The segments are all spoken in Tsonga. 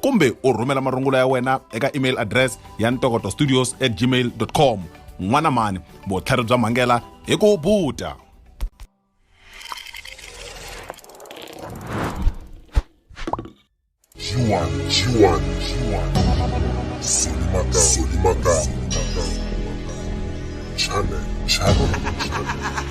kumbe u rhumela marungula ya wena eka email address ya ntokoto studios at gmail com n'wana mani vutlhari bya mhangela hi ku buta G1, G1, G1. Solimaka, Solimaka. Channel, Channel, Channel.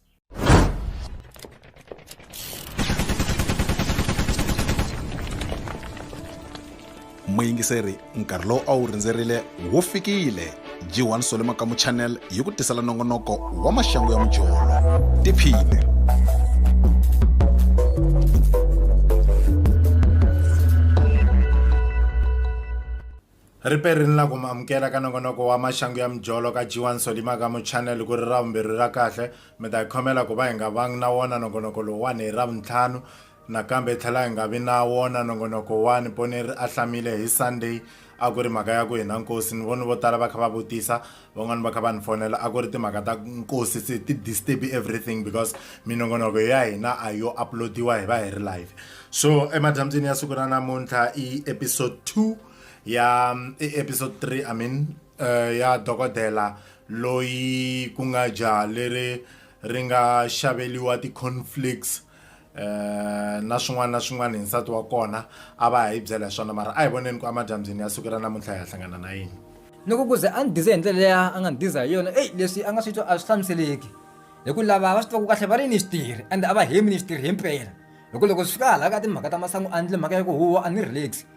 muyingiseri nkarhi lowu a wu rindzerile wu fikile g1 sole makamu channel yi ku tisela nongonoko wa maxangu ya mujolo tiphine Ri pe ri nla ku mi amukela ka nongonoko wa Maxangu ya Mujolo ka Djiwa Nsoli maka mu chanel ku ri Ravumbirhi ra kahle. Mi ta hi khomela ku va hi nga vangi na wona nongonoko lowuwani hi Ravuntlhanu. Nakambe hi tlhela hi nga vi na wona nongonoko wa Ni Poneri a Hlamile hi Sunday. A ku ri mhaka ya ku hi na nkosi. Ni vone vo tala va kha va vutisa, van'wani va kha va ni fonela a ku ri timhaka ta nkosi se ti disturb everything because minongonoko ya hina a yo uploadiwa hi va hi ri live so emadyambyini ya siku ra namuntlha i episode 2 ya i episode 3 i mean uh, ya dokodela loyi ku nga jaha leri ri nga xaveliwa ti-conflicts Eh, na swin'wana na swin'wana hi nsati wa kona a va ha yi byela hi swona mara a hi voneni ku amadyambyini ya sukela namuntlha hi ya hlangana na yini loko ku ze a ni dize hi ndlela leya a nga ni diza hi yona eyi leswi a nga swi twa a swi hlamuseleki hi ku lava va swi tivaka kahle va ri ni xitirhi ende a va hemi ni xitirhi himpela hi ku loko swi fika hala ka timhaka ta masangu a ndle mhaka ya ku huwa a ni relax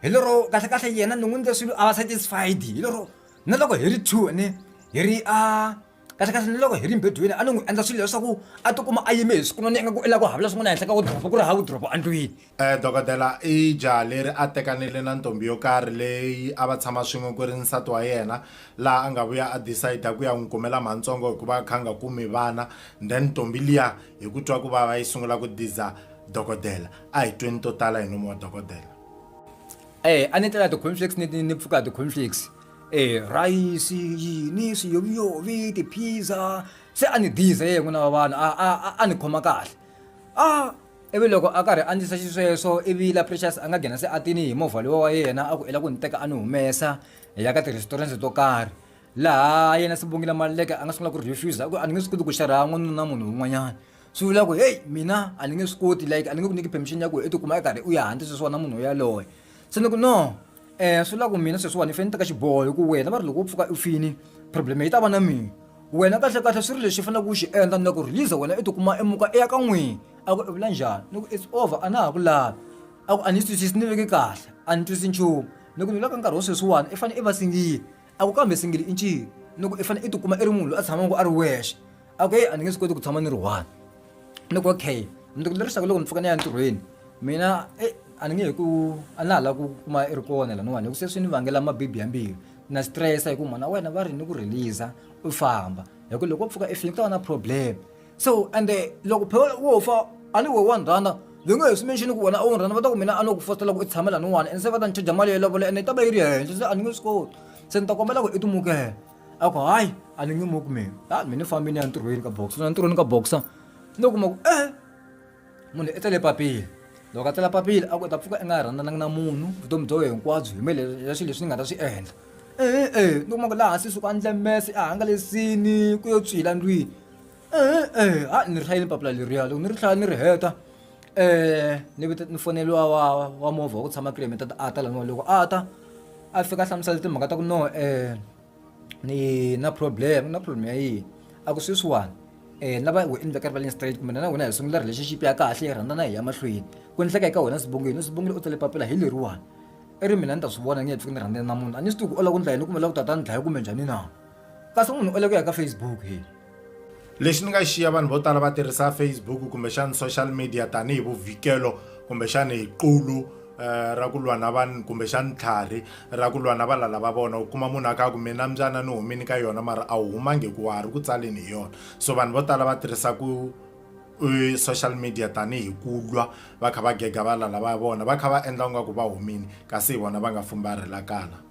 hi lero kahlekahle yena ni n'wi ndle swilo a va satisfied hi lero na loko hi ri two ne hi ri a kahlekahle ni loko hi ri mbedweni a ni n'wi endla swilo leswaku a tikuma a yime hi swikunoni ingaku i la ku havula swin'wana henhla ka wudropo ku ri ha wudropo endlwini um dokodela i jaha leri a tekanile na ntombi yo karhi leyi a va tshama swin'we ku ri nsati wa yena laha a nga vuya a decide ku ya n'wi kumela mhantsongo hikuva a kha a nga kumi vana then ntombi liya hi ku twa ku vava yi sungula ku diza dokodela a hi tweni to tala hi nomu wa dokodela e a ni tlela ti-conflicts ni pfuka ti-conflicts e rhayisi yini swiyoviyovi tiphiza se a ni dize ye n'wina wa vanhu a a a- a ni khoma kahle a ivi loko a karhi a ndlisa xisweswo ivi la precious a nga nghena se a tini hi movha lowa wa yena a ku i la ku ni teka a ni humesa hi ya ka ti-restaurant to karhi laha yena sibongile maleke a nga sungula ku refusa ku a ni nge swi koti ku xerha n'wanuna munhu un'wanyana swi vula ku heyi mina a ni nge swi koti like a ni nge ku nyiki permission ya ku i tikuma i karhi u ya handle sweswiwana munhu yaloye se ni ku no um swi la ku mina sweswiwani ni fane ni teka xiboho hi ku wena va ri loko u pfuka u fini problem yi ta va na mina wena kahlekahle swi ri lexi faneleke u xi endla na ku release wena i tikuma i muka i ya ka n'wini a ku i vula njhani ni ku it's over a na ha ku lavi a ku a ni yi twisisi ni veke kahle a ni twisi nchumu ni ku ni vula ka nkarhi wa sweswiwani i fanele i va singile a ku kambe singili i ncini ni ku i fanele i tikuma i ri munhu loyi a tshamaka a ri wexe a ku heyi a ni nge swi koti ku tshama ni ri one ni ku okay ni ku lerisaka loko ni pfuka ni ya entirhweni mina e a ni nge he ku a na ha lava ku kuma i ri kona laniwani hi ku se swi ni vangela mabibi ya mbilu na stress hi ku mhana wena va ri ni ku release u famba hi ku loko wo pfuka i fini ku ta va na problem. so ende loko phela wo fa a ni we wa ni rhandza ndzi nge he swi mention ku wena a wu ni rhandza va ta ku mina a no ku fositela ku i tshame lani wani ende se va ta ni chaja mali yo lovola ende yi ta va yi ri henhla se a ni nge swi koti se ni ta kombela ku i timukela a ku hayi a ni nge muki mina a mina ni fambini ya ntirhweni ka boxa na ntirhweni ka boxa ni kuma ku ehe munhu i tele papila loko a tela papila a ku ta pfuka i nga rhandzananga na munhu vutomi bya wena hinkwabyo hi mele ya swilo leswi ni nga ta swi endla e-e ni kuma ku laha hansi suka ndle mese a hangalesini ku yo tswila ndlwini e-e ha ni ri hlayile papila leriya loko ni ri hlaya ni ri heta um ni vita ni foneliwa wa wa movha wa ku tshama kilometer a ta laniwa loko a ta a fika a hlamusela timhaka ta ku no um ni na problem na problem ya yini a ku sweswiwani um na va we endla ka rivaleni straight kumbe na wena hi sungula relationship ya kahle hi rhandza na hi ya mahlweni ku endleka eka wena swibongweni swibongile u tsale papila hi leriwani i ri mina ni ta swi vona nge he pfuki ni rhandzana na munhu a ni swi tivi ku ola ku ndla yini kumbe la ku tata ni dlaya kumbe njhani na kasi munhu u le ku ya ka facebook he lexi ni nga xiya vanhu vo tala va tirhisa facebook kumbexana social media tanihi vuvhikelo kumbexana hi qulu eh, ra ku lwa na vanhu kumbexana tlhari ra ku lwa na valala va vona u kuma munhu a ka ku mina mbyana ni humini ka yona mara a wu humangi ku wa ha ri ku tsaleni hi yona so vanhu vo tala va tirhisa ku eh, social media tanihi ku lwa va kha va gega valala va vona va kha va endla ingaku va humini kasi hi vona va nga fumbarhelakala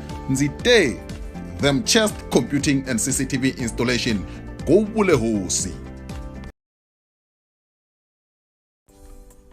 Ndzi te, Them Chest Computing and CCTV Installation, ku vule hosi.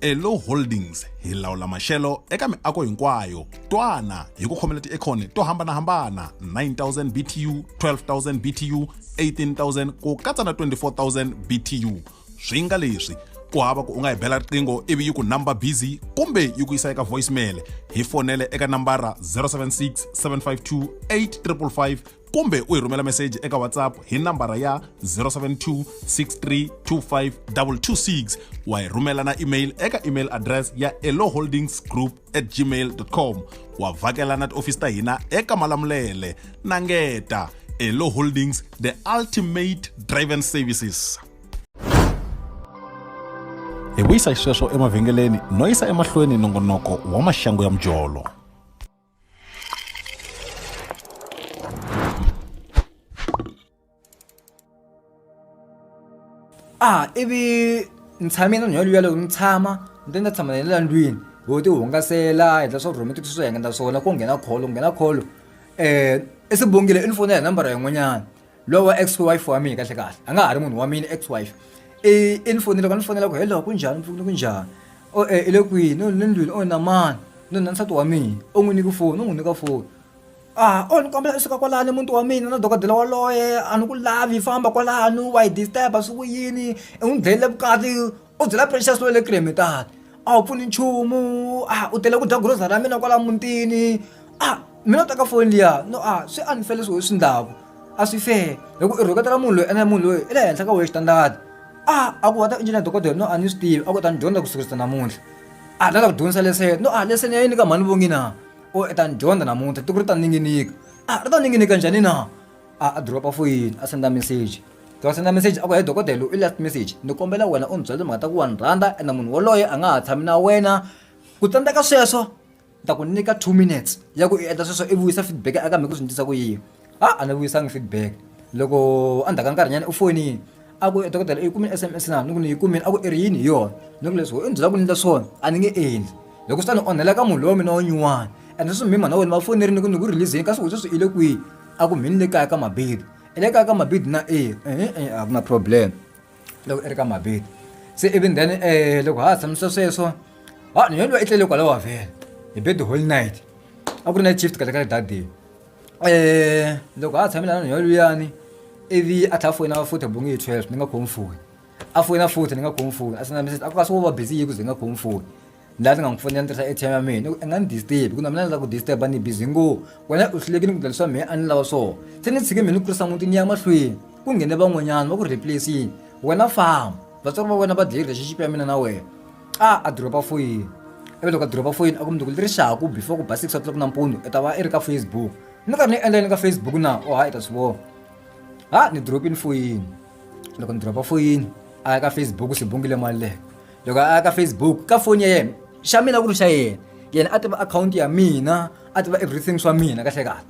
Elo Holdings hi lawula maxelo eka miako hinkwayo. Twana hi ku khomela tiekhoni to hambana-hambana 9000 BTU, 12000 BTU, 18000 ku katsa na 24000 BTU. swi nga leswi ku hava ku u nga yi bela riqingho ivi yi ku number busy kumbe yi ku yisa eka voicemail hi fonele eka nambara 076 752 8555 kumbe u hi rhumela meseji eka whatsapp hi nambara ya 072 6325 226 wa hi rhumela na email eka email address ya eloholdingsgroup at gmail.com wa vhakela na tiofisi ta hina eka malamulele na ngeta elo holdings the ultimate driven services hi vuyisa xisweswo emavhengeleni no yisa emahlweni nongonoko wa maxangu ya mujolo a ivi ni tshame na nhwalo yaloyo ni tshama ni te ni ta tshama na le la ndlwini ho ti hungasela hi dla swa rhumeti swi swo hengeta swona ku nghena kholo ku nghena kholo um i swi bongile i ni foni ya hi nambara yin'wanyana lowu wa ex wife wa mina kahle kahle a nga ha ri munhu wa mina ex wife i i ni fonile ka ni fonela ku hello ku njhani mpfuni ku njhani o e i le kwini o ni le ndlwini o na mani no na nsati wa mina u n'wi nyiki foni u n'wi nyika foni A o ni kombela u suka kwalani muti wa mina na dokodela waloye a ni ku lavi famba kwalano wa hi disturb-a swi ku yini i n'wi dlayile vukati u byela Precious loyi le kule me tata a wu pfuni nchumu a u tele ku dya grocery ya mina kwala mutini a mina u teka foni liya no a swi unfair leswi why u swi ndlaku a swi fair hi ku i rhuketela munhu loyi ene munhu loyi i le henhla ka wehe xitandani a a ku wena engineer dokodela no a ni swi tivi a ku u ta ni dyondza ku sukurisa namuntlha a ni lava ku dyondzisa leseni no a leseni ya yini ka mhani Vongina. u ta ni dyondza namuntlha tiko ri ta ninginika a ri ta ninginika njhani na a a dropa foyini a senda message loko a senda message a ku he dokodela i last message ni kombela wena u ni byela timhaka ta ku wa ni rhandza ene munhu woloye a nga ha tshami na wena ku tsandzeka sweswo ni ta ku nyika two minutes ya ku i endla sweswo i vuyisa feedback eka mina ku swi ni twisa ku yini a a ni vuyisanga feedback loko a ndzhaku ka nkarhi nyana u fonini a ku dokodela i kumile S_M_S na ni ku ni yi kumile a ku i ri yini hi yona ni ku leswi why u ni byela ku ni endla swona a ni nge endli hi ku swi ta ni onhela ka munhu lowa mina wa nyuwana and sweswi mi mhana wena va fonerile ni ku ni ku release-zeni kasi wena sweswi i le kwihi a ku mhani ni le kaya ka Mabedi i le kaya ka Mabedi na eya a ku na problem loko i ri ka Mabedi se ivi then loko ha ha tshamise sweswo ha ni yena luya i tlele kwalaho vhele hi bed whole night a ku ri night shift kahle kahle that day. Eh loko a tshamela na nhwalo luyani ivi a tlha foyina futhi bonge hi 12 ni nga khomi foni a foyina futhi ni nga khomi foni a senda message a ku ka swo va busy yi ku ze nga khomi foni laha ni nga n'wi fonela ni tirhisa ATM ya mina i nga ni disturb ku na mina ni la ku disturb ni busy ngo wena u hluleke ni ku ndlela swa mina a ni lava swona se ni tshike mina ni kurisa n'winyi ni ya mahlweni ku nghene van'wanyana va ku replace-ini wena famba vatswari va wena va dye relationship ya mina na wena. xa a drop-a foyini ivi loko a drop-a foyini a ku mundzuku leswaku before ku ba six o'clock nampundzu i ta va i ri ka Facebook ni karhi ni endla yini ka Facebook na o ha i ta swi vona ha ni drop-ini foyini loko ni drop-a foyini a ya ka Facebook swi bungile mali leyo loko a ya ka Facebook ka foni ya yena xa mina ku ri xa yena yena a tiva akhawunti ya mina a tiva everything swa mina kahle kahle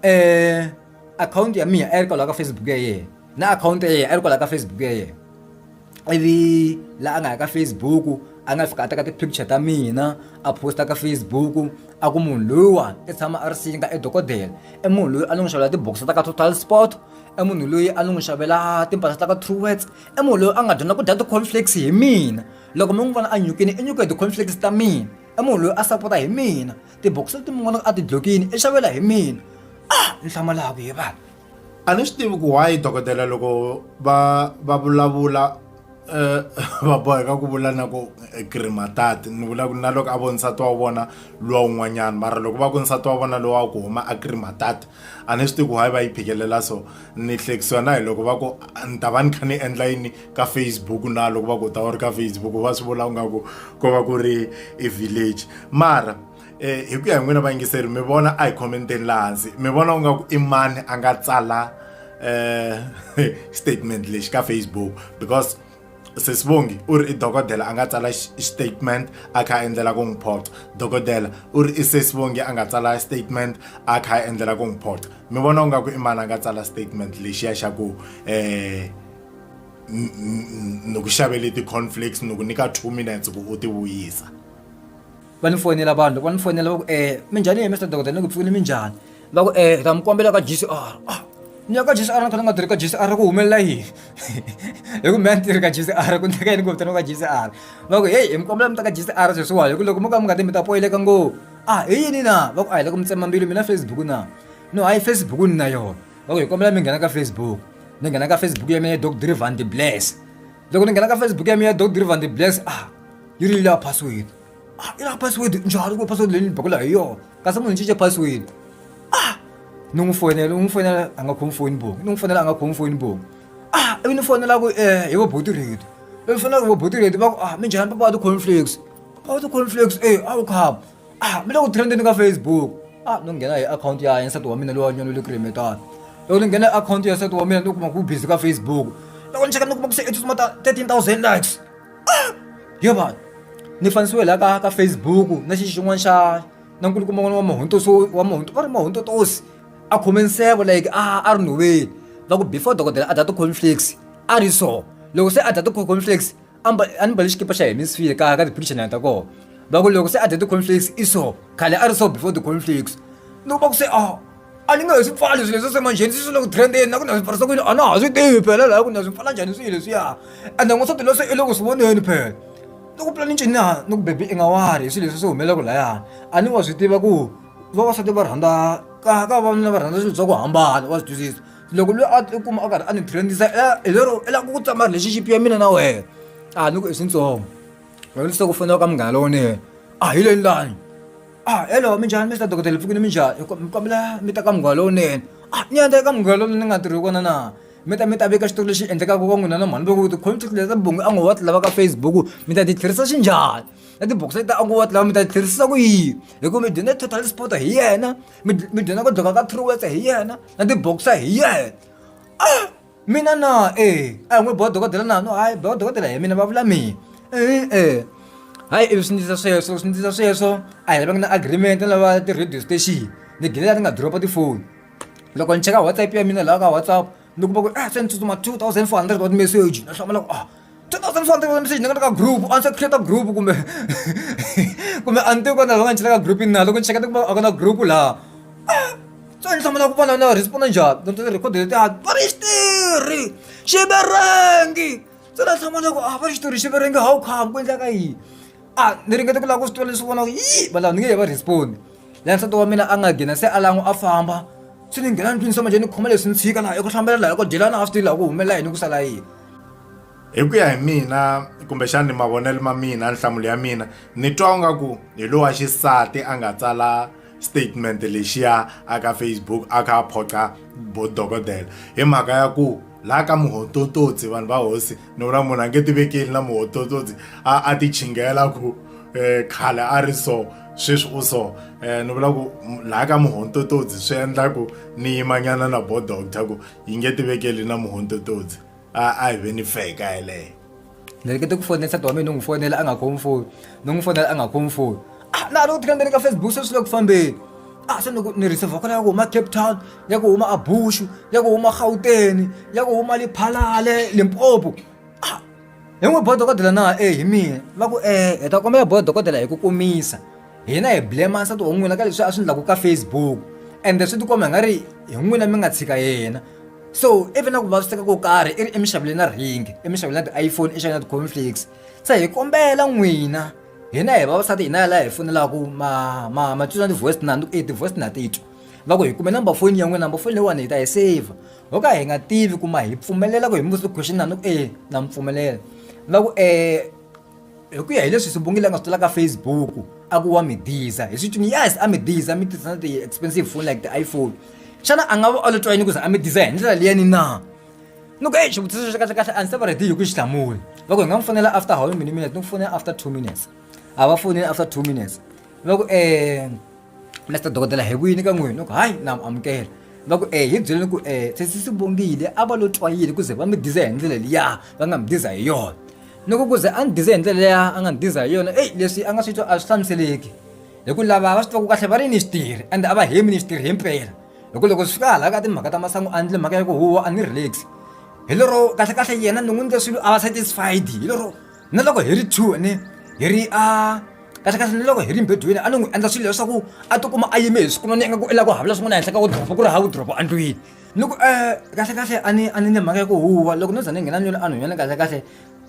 um akhawunti ya mina a yi ri kwalaho ka Facebook ya yena na akhawunti ya yena a yi ri kwalaho ka Facebook ya yena ivi laha a nga ya ka facebook a nga fika a teka ti-picture ta mina a posta ka facebook a ku munhu loyiwa i tshama a ri singa i dokodela i munhu loyi a ni n'wi xavela tibokisi ta ka total sport i munhu loyi a ni n'wi xavela timpahla ta ka true words i munhu loyi a nga dyondza ku dya ti-conflicts hi mina loko mi n'wi vona a nyukini i nyuka hi ti-conflicts ta mina i munhu loyi a sapota hi mina tibokisi leti mi vonaka a ti dlokini i xavela hi mina ah ni hlamalaku he vanhu a ni swi tivi ku why dokodela loko va va vulavula eh, va boheka ku vula na ku eh, krimatati ni vula ku na loko a vo nsati wa vona luwa un'wanyana mara loko va ku nsati wa vona lowa ku huma a krimatati a ni swi tivi ku why va yi phikelela so ni hlekisiwa na hi loko va ku "Ah, ni ta va ni kha ni endla yini ka facebook na loko va ku ta u ri ka facebook va swi vula u nga ku ko va ku ri i village mara eh, hi ku ya hi n'wina vayingiseri mi vona a hi khomenteni laha hansi mi vona u nga ku i mani a nga tsala eh, statement lexi ka facebook because sesibongi u ri i dokodela a nga tsala statement a kha a endlela ku n'wi phoxa dokodela u ri i sesibongi a nga tsala statement a kha a endlela ku n'wi phoxa mi vona u nga ku i mani a nga tsala statement lexiya xa ku um ni ku xavele ti-conflicts ni ku nyika two minutes ku u ti vuyisa va ni foyinela vanhu loko va ni foyinela va ku um minjhani ye mister dokodela ni ku pfukile minjhani va ku um ta mi kombela ka g c r a ni ya ka g c r ni kha ni nga tirhi ka g c r ku humelela yini hi ku mina ni tirhi ka g c r ku ndleka yini ku vitaniwa ka g c r va ku heyi hi mi kombela mi ta ka g c r sweswiwani hi ku loko mo ka mi nga ti mi ta poyileka ngopfu a hi yini na va ku a hi le ku mi tsema mbilu mina facebook na no hayi facebook ni na yona va ku hi kombela mi nghena ka facebook ni nghena ka facebook ya mina doc drivan de bless loko ni nghena ka Facebook ya mina Doctor Van de Bless ah yi ri la password ah yi la password njhani ku password leyi ni bakula hi yona kasi munhu cince password ah ni n'wi fonela n'wi fonela a nga khomi foni bongo ni n'wi fonela a nga khomi foni bongo ah ivi ni fonela ku eh hi voboti reto ivi fonela ku voboti reto va ku ah minjhani papa wa ti-cornflakes papa wa ti-cornflakes eh a wu khaba ah mi le ku trendeni ka facebook ah no nghena hi akhawunti ya yena nsati wa mina loyi wa nyolo le ku remetana loko ni nghena hi akhawunti ya nsati wa mina ni kuma ku busy ka facebook loko ni cheka ni kuma ku se i tsutsuma ta thirteen thousand likes ah yo vanhu ni fanisiwe laha ka ka facebook na xi xin'wana xa na nkulukumba n'wana wa mahuntoso wa mahunto va ri mahuntotosi a khome nseve like a a ri nhoveni va ku before dokodela a data conflicts a ri so loko se a data conflicts a ni ba- a ni mbali xikipa xa hina swi file ka ka ti-pictionary ta kona va ku loko se a dya ti-conflicts i so khale a ri so before ti-conflicts loko va ku se a a ni nga hi swi pfali swilo leswi semanjheni swi swi le ku trendeni na ku na swi pfarisa ku yini a na ha swi tivi phela laha ku na swi pfala njhani swilo leswiya ende n'wansati loyi se i le ku swi voneni phela ni ku pula ni ncini na ni ku bebi i nga wari hi swilo leswi swi humelelaka layani a ni wa swi tiva ku vavasati va rhandza ka ka vavanuna va rhandza swilo swa ku hambana wa swi twisisa loko loyi a kuma a karhi a ni trendisa hi lero i lava ku tsama relationship ya mina na wena a ni ku i swintsongo loko ni se ku fonela ka munghana lowunene a hi leni lani a hello minjhani mr dokodela pfukini minjhani mi kombela mi ta ka munghana lowunene a ni ya ta ka munghana lowunene ni nga tirhi kona na mi ta mi ta veka xitori lexi endlekaka ka n'wina na mhani loko ti-contract leta bongi a ngo wa ti lava ka facebook mi ta ti tlherisa xinjhani na tibokisi leta a ngo wa ti lava mi ta ti tlherisa ku yini hikuva mi dyondza total sport hi yena mi mi dyondza ku dlhoka ka truworths hi yena na ti-boxer hi yena a mina na e a hi n'wi boha dokodela nano hayi boha dokodela hi mina va vula mina e-e hayi ivi swi ndlisa sweswo swi ndlisa sweswo a hi lava nga na agreement na lava ti-radio station ni gine la ni nga drop-a tifoni loko ni cheka WhatsApp ya mina laha ka WhatsApp. ni kuma ku eh se ni tsutsuma two thousand four hundred wa timeseji na hlamula ku ah two thousand four hundred wa timeseji ni nga ka group a ni se create group kumbe kumbe a ni tivi ku na nga ni chela ka group na loko ni cheka ni kuma a ku na group laha ah, so ni hlamula ku vana na responda njhani ni ti record leti a va ri xitirhi xiverengi se na hlamula ku a ah, va ri xitirhi xiverengi how come ku endlaka yini a ah, ni ringete ku lava ku swi tiva leswi vona ku yi valava ni nge he va respondi laha nsati wa mina a nga gina se a lan'we a famba swi ni nghena ndlwini se manje ni khoma leswi ni tshika laha eku hlambela laha ko dyelana a swi tivi laha ku humelela yini ku sala yini hi ku ya hi mina kumbexani mavonelo ma mina nhlamulo ya mina ni twa u nga ku hi lowa xisati a nga tsala statement lexiya aka facebook a kha a phoqa bo dokodela hi mhaka ya ku laha ka muhotototsi vanhu va hosi ni vona munhu a nge ti vekeli na muhototsotsi a a ti chinghela ku um khale a ri so sweswi u so um ni vula ku laha ka muhontototsi swi endla ku ni yimanyana na bo doctor ku yi nge ti vekeli na muhontototsi a a hi ve ni feka yeleyo ni ri ke ti ku fonela nsati wa mina ni n'wi fonela a nga khomi foni ni n'wi fonela a nga khomi foni a na ha ri ku ti kambeni ka Facebook se swi le ku fambeni a se ni ku ni receive kona ya ku huma Cape Town ya ku huma a Bushu ya ku huma Gauteng ya ku huma Lephalale Limpopo a hi n'wi bodo kodela na e hi mina va ku e hi ta kombela bodo kodela hi ku kumisa hina hi blame nsati wa n'wina ka leswi a swi ndlaku ka Facebook and swi ti komba hi nga ri hi n'wina mi nga tshika yena so even na ku vaviseka ko karhi i ri emishaveni na ringi emishaveni na ti-iphone emishaveni na ti-conflicts se hi kombela n'wina hina hi vavasati hina laha hi fonelaka ma ma ma twisana ti-voice na e ti-voice na titwa va ku hi kume number foni ya n'wina number foni leyiwani hi ta hi saver ho ka hi nga tivi ku ma hi pfumelela ku hi mi vutisa question na ni ku e na mi pfumelela va ku um hi ku ya hi leswi sibongile a nga swi tola ka facebook a ku wa mi diza hi swi tuni yes a mi diza mi tirhisana ti-expensive phone like ti-iphone xana a nga va a lo twa yini ku za a mi diza hi ndlela liyani na ni ku eyi xivutiso xi kahle kahle a ndzi se va ready hi ku xi hlamula va ku hi nga n'wi fonela after how many minutes ni ku fonela after two minutes a va foneli after two minutes va ku um mr dokodela hi kuyini ka n'wini ni ku hayi na amukela va ku e hi byeleni ku e sesi swi vongile a va lo twa yini ku ze va mi diza hi ndlela liya va nga mi diza hi yona ni ku ku ze a ni dize hi ndlela liya a nga ni diza hi yona eyi leswi a nga swi twa a swi hlamuseleki hi ku lava va swi twaku kahle va ri ni xi tirhi ende a va hemi ni xi tirhi himpela hi ku loko swi fika hala ka timhaka ta masangu a endle mhaka ya ku huwa a ni relax hi lero kahlekahle yena ni n'wi ndle swilo a va satisfied hi lero na loko hi ri two ni hi ri a kahlekahle ni loko hi ri mbedweni a ni n'wi endla swilo leswaku a tikuma a yime hi siku none ingaku i lava ku havula swin'wana henhla ka wodoropo ku ri ha wodoropo endlwini ni ku um kahlekahle a ni a ni ni mhaka ya ku huwa loko no za ni nghena nyolo a ni hunyana kahlekahle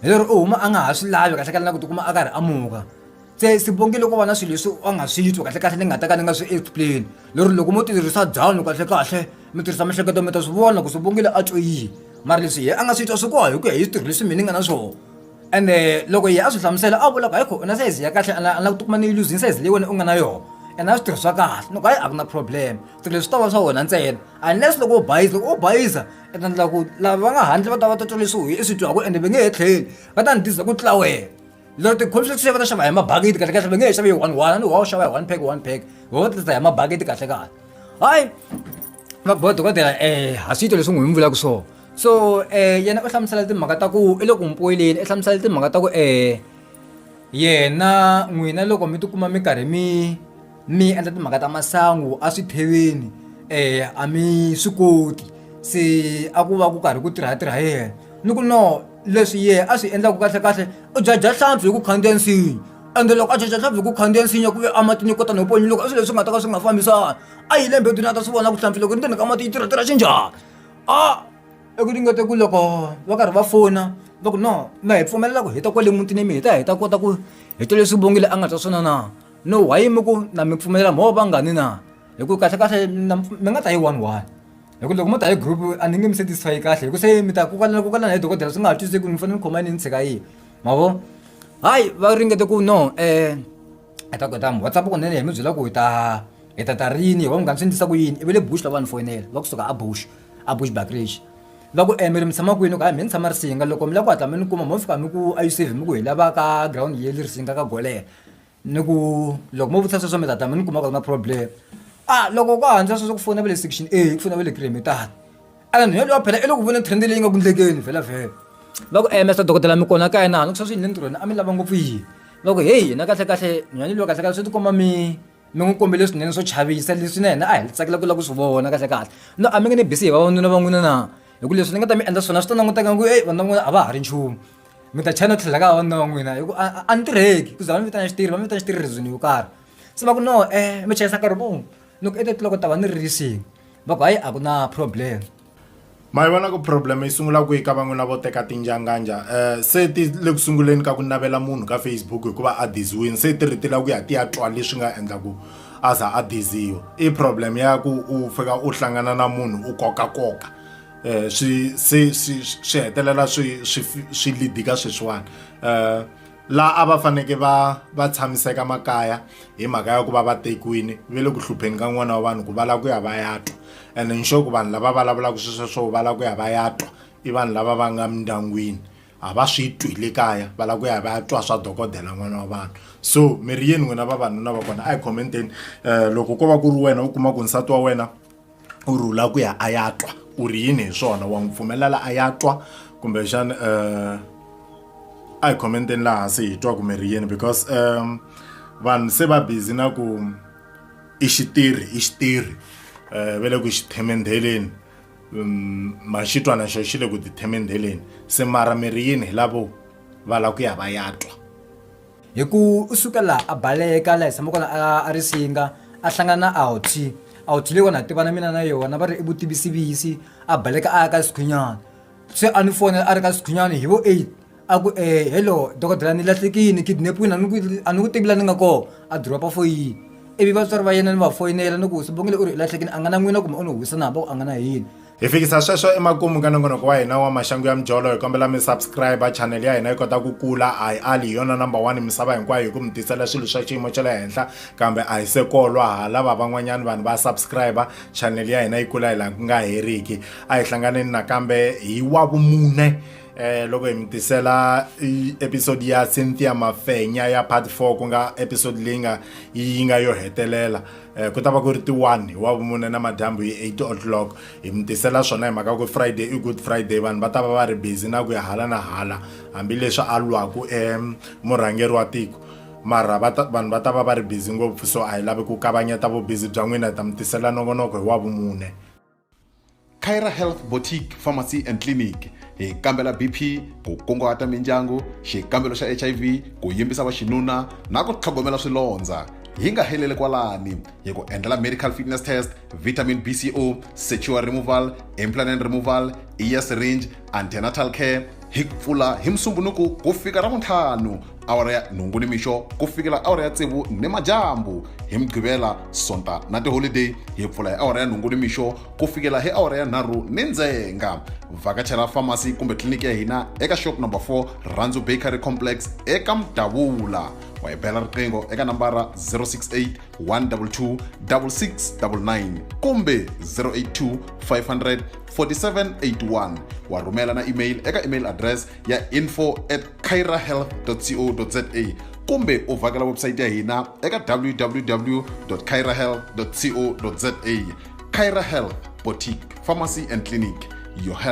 hi lero u huma a nga ha swi lavi kahlekahle na ku tikuma a karhi a muka se sibongi loko vana swilo leswi a nga swi twi kahle kahle ni nga ta ka ni nga swi explain lero loko mo tirhisa dyanu kahle kahle mi tirhisa mihleketo mi ta swi vona ku sibongile a twe yini mara leswi ye a nga swi twa swi koha hi ku ya hi switirho leswi mina ni nga na swona ende loko ye a swi hlamusela a vula ku hayi kho na sayizi ya kahle ana ana tikuma ni yi luzini sayizi leyi wena u nga na yona ene a swi tirhisiwa kahle loko hayi a ku na problem swilo leswi ta va swa wena ntsena unless loko u bayiza loko u bayiza ene endla ku lava va nga handle va ta va ta twa leswi i swi twaku ende va nge he tlheli va ta ni diza ku tlula wena Lero tikhulu swi xava ta xava hi mabagiti kahle kahle va nge he xavi hi one one a ni wa u xava hi one pack one pack wo tata hi mabagiti kahle kahle hayi va boha dokodela um ha swi yito leswi n'wi mi vulaka swona so um yena u hlamusela timhaka ta ku i le ku mpoyileni i hlamusela timhaka ta ku um yena n'wina loko mi tikuma mi karhi mi mi endla timhaka ta masangu a swi theveni um a mi swi koti se a ku va ku karhi ku tirha tirha yena ni ku no leswi yehe a swi endlaku kahlekahle u jajha hlampfi hi ku khandziya nsinya ende loko a jajha hlampfi hi ku khandziya nsinya ku ve a matini kota no ponyi loko a swilo leswi nga ta ka swi nga fambisana a yi le mbedweni a ta swi vona ku hlampfi loko ri ndzeni ka mati yi tirha tirha xinjhani a eku ringete ku loko va karhi va fona va ku no ma hi pfumelela ku hi ta kwale mutini mi hi ta hi ta kota ku hi ta leswi vongile a nga ta swona na no why mi ku na mi pfumelela mho vangani na hi ku kahlekahle na mi mi nga ta hi one one hi ku loko mo ta hi group a ni nge mi satisfy kahle hi ku se mi ta kokanela kokanela hi dokodela swi nga ha twiseki ni fanele ni khoma yini ni tshika yihi ma vo hayi va ringete ku no um hi ta kota whatsapp kunene hi mi byela ku hi ta hi ta ta rini hi va munghana swi endlisa ku yini i ve le bush lava ni foyinela va kusuka a bush a bush bakrish va ku um mi ri mi tshama kwini ku hayi mi ni tshama risinga loko mi lava ku hatla mi ni kuma mo fika mi ku a yi save mi ku hi lava ka ground yeli risinga ka golela ni ku loko mo vutisa sweswo mi ta ta mi ni kuma ku ri na problem a loko ku handzisa sweswo ku fona va le section a ku fona va le cream hi tata ene nhwelo yo phela i loko vona trend leyi nga ku ndlekeni vhela vhela va ku ems dokodela mi kona kaya na hanu ku sweswi yini le ntirhweni a mi lava ngopfu yini va ku heyi hina kahle kahle nhwanyeni loyi kahle kahle swi tikomba mi mi n'wi kombele swinene swo chavisa leswi na hina a hi tsakela ku lava ku swi vona kahle kahle no a mi nge ni bisi hi vavanuna va n'wina na hi ku leswi ni nga ta mi endla swona swi ta languteka ku e vanhu va n'wina a va ha ri nchumu mi ta chava no tlhela ka wanuna wa n'wina hi ku a a ni tirheki ku za va ni vitana xitirhi va ni vitana xitirhi reason yo karhi se va ku no um mi chayisa nkarhi muni ni ku etetloko ta va ni ririsini va ku hayi a ku na problem ma yi vona ku problem yi sungula kwihi ka van'wina vo teka tinjanganja um se ti le ku sunguleni ka ku navela munhu ka facebook hikuva a diziwini se ti ri ti lava ku ya ti ya twa leswi nga endla ku a za a diziwa i problem ya ku u fika u hlangana na munhu u kokakoka um swi se swi swi hetelela swi swi swi lidika sweswiwani um laha a va faneke va va tshamiseka makaya hi mhaka ya ku va va tekiwini ve le ku hlupheni ka n'wana wa vanhu ku va lava ku ya va ya twa and nxo ku vanhu lava vulavulaka swesweswo va lava ku ya va ya twa i vanhu lava va nga mindyangwini a va swi twi le kaya va lava ku ya va ya twa swa dokodela n'wana wa vanhu so mi ri yini n'wina vavanuna va kona a hi commenteni um loko ko va ku ri wena u kuma ku nsati wa wena u rhula ku ya a ya twa ku ri yini hi swona wa n'wi pfumelela a ya twa kumbexana um a hi khomenteni laha hansi hi twa kumbe ri yini because um vanhu se va busy na ku i xitirhi i xitirhi um va le ku xi themendheleni um maxitwana xo xi le ku ti themendheleni se mara mi ri yini hi lavo va lava ku ya va ya twa hi ku u suka laha a baleka laha hi tshama kona a a ri singa a hlangana na outy outy leyi wona ha tivana mina na yona va ri i vutivisivisi a baleka a ya ka sikhwinyana se a ni fonela a ri ka sikhwinyana hi vo eight a ku um hello dokodela ni lahlekini kidnapiwini a ni ku a ni ku tivi la ni nga kona a dropa foyini ivi vatswari va yena ni va foyinela ni ku sibongile u ri i lahlekini a nga na n'wina kumbe u ni huwisa na hambi a ku a nga na yini hi fikisa sweswo emakumu ka nongonoko wa hina wa maxangu ya mijolo hi kombela mi subscribe chanel ya hina yi kota ku kula a hi ali hi yona number one misava hinkwayo hi ku mi tisela swilo swa xiyimo xa le henhla kambe a hi se kolwa ha lava van'wanyana vanhu va subscribe chanel ya hina yi kula hi laha ku nga heriki a hi hlanganeni nakambe hi wa vumune eh loko hi mi tisela episode ya Cynthia Mafenya ya part 4 ku nga episode leyi nga yi nga yo hetelela Eh, ku ta va ku ri ti-one wa vumune na madyambu hi eight o'clock hi mi tisela swona hi mhaka ku friday i good friday vanhu va ta va va ri busy na ku ya hala na hala hambileswi a lwaku emurhangeri wa tiko mara vanhu va ta va va ri busy ngopfu so a hi lavi ku kavanyeta vubizi bya n'wina hi ta mi tisela nongonoko hi wa vumune Kyra Health Boutique Pharmacy and Clinic hi kambela BP ku kunguhata mindyangu xikambelo xa HIV ku yimbisa vaxinuna na ku tlhogomela swilondza hi nga heleli kwalani hi ku endlela medical fitness test vitamin bco secure removal implanent removal ear syringe antenatal care hi pfula hi musumbunuku ku fika ra vuntlhanu awara ya nhungu ni mixo ku fikela awara ya tsevu ni madyambu hi mugqivela sonta na tiholideyi hi pfula hi awara ya nhungu ni mixo ku fikela hi awara ya nharhu ni ndzenga vhakachela famasi kumbe tliliniki ya hina eka shop number 4 rhandzu bakery complex eka mudavula wa hi bela riqingho eka nambara 068 122 6699 kumbe 082 500 4781 wa rhumela na email eka email address ya info at cairahealth.co.za kumbe u vhakela website ya hina eka www cairahealth.co.za caira health boutique pharmacy and clinic your health